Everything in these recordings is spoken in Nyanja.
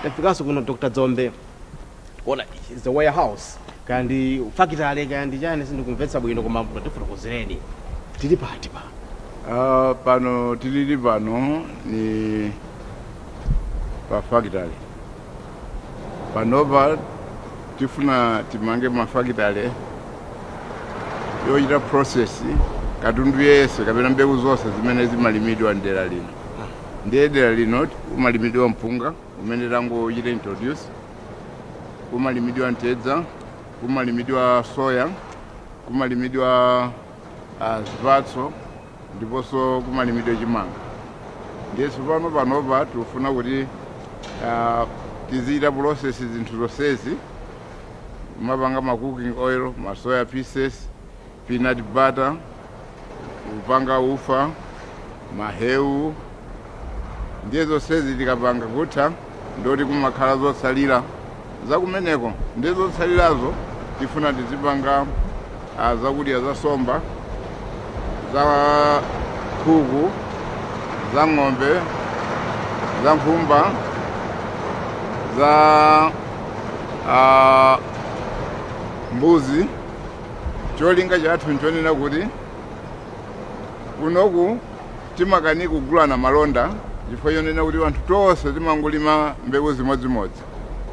tafikanso kuno dr dzombe kuona is the warehouse kaya ndi fakitale kaya ndi chani sindikumvetsa bwino koma mutifotokozereni tili pati pa Ah, pano tilili pano ni pa factory panopa tifuna timange mafakitale ochita process katundu yense kapena mbewu zonse zimene zimalimidwa mdera lino ndiye dera lino kumalimidwa mpunga umene tangochita introduce kumalimidwa mtedza kumalimidwa soya kumalimidwa ah, zipatso ndiponso kumalimidwa chimanga ndiye tsopano panopa tikufuna kuti ah, tizichita process zinthu zonsezi mapanga ma cooking oil ma soya pieces peanut butter kupanga ufa mahewu ndiye zonsezi tikapanga kutha ndoti kumakhala zotsalira zakumeneko ndiye zotsalirazo tifuna tizipanga ah, zakudya za somba za khuku za ng'ombe za nkhumba za ah, mbuzi Cholinga chathu nchonena kuti kunoku timakanika kugulana malonda chifukwa chonena kuti anthu tonse timangolima mbewu zimodzimodzi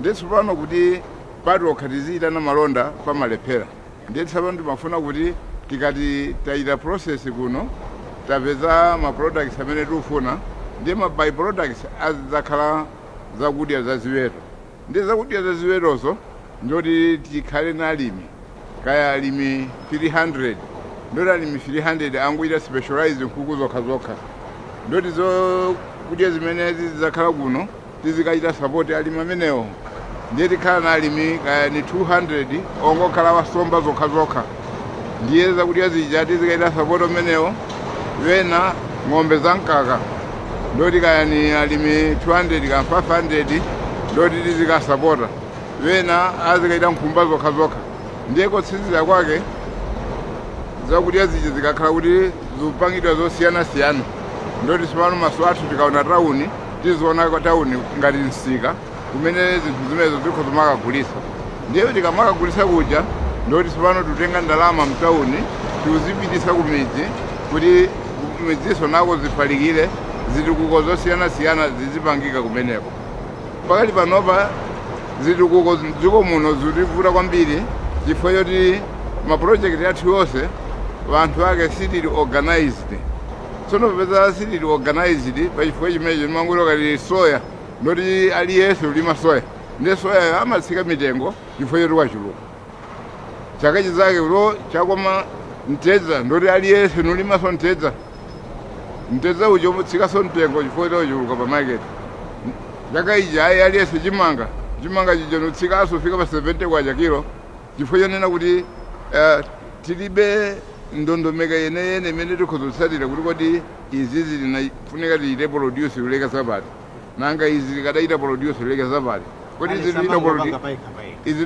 ndiye tsopano kuti patokha tiziyitana malonda pamalephera ndiye tsopano timafuna kuti tikati tayita process kuno tapeza ma products amene tikufuna ndiye ma by products azidzakhala zakudya za ziweto Ndiye zakudya za ziwetozo ndoti tikhale na alimi kaya alimi 300 ndoti alimi 300 angochita specialize nkhuku zokha zokha ndoti zokudya zimene zidzakhala kuno tizikachita support alimi amenewo ndiye tikhala na alimi kaya ni 200 ongokhala wasomba zokha zokha ndiye zakudya zija tizikaita sapoti amenewo wena ng'ombe za mkaka ndoti kaya ni alimi 200 ka 500 ndoti tizikasapota wena azikaita nkhumba zokha zokha ndiye kotsizira kwake zakudya zija zikakhala kuti zikupangidwa zosiyanasiyana ndoti tsopano maso athu tikaona tawuni tiziona tawuni ngati msika kumene zinthu zimenezo zikhoza makagulisa ndiye tikamakagulisa kuja ndoti tsopano tutenga ndalama mtawuni tiuzipitisa ku midzi kuti kumidziso nako zifalikire zitukuko zosiyanasiyana zizipangika kumeneko pakali panopa zitukuko dziko muno zikutivuta kwambiri chifukwa choti mapulojekiti athu onse wanthu ake sitili organized tsono popeza sitili organized pachifukwa chimenecho timangoti kalime soya ndoti aliyense ulima soya ndi soyayo amatsika mitengo chifukwa choti wachuluka chaka chinzake uno wakoma mtedza ndoti aliyense nulimaso mtedza mtedza uja umatsikaso mtengo chifukwa choti wachuluka pa market chaka ija ayi aliyense chimanga chimanga chija nutsikaso fika pa 70 kwacha kilo chifukwa chonena kuti eh, tilibe ndondomeko yeneyene imene tikhoza kutsatira kuti kodi izi zimafunika tichite produce muyeso wa bwanji nanga izi tikadachita produce ileke zapati kodi izi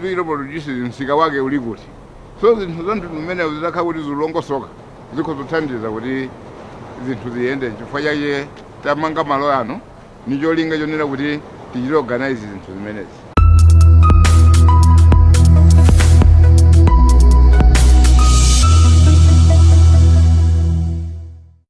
tikachita produce msika wake uli kuti so zinthu za mtundu umenewu zitakhala kuti zalongosoka zikhoza kuthandiza kuti zinthu ziyende chifukwa chake tamanga malo ano ndi cholinga chonena kuti tichite organize zinthu zimenezi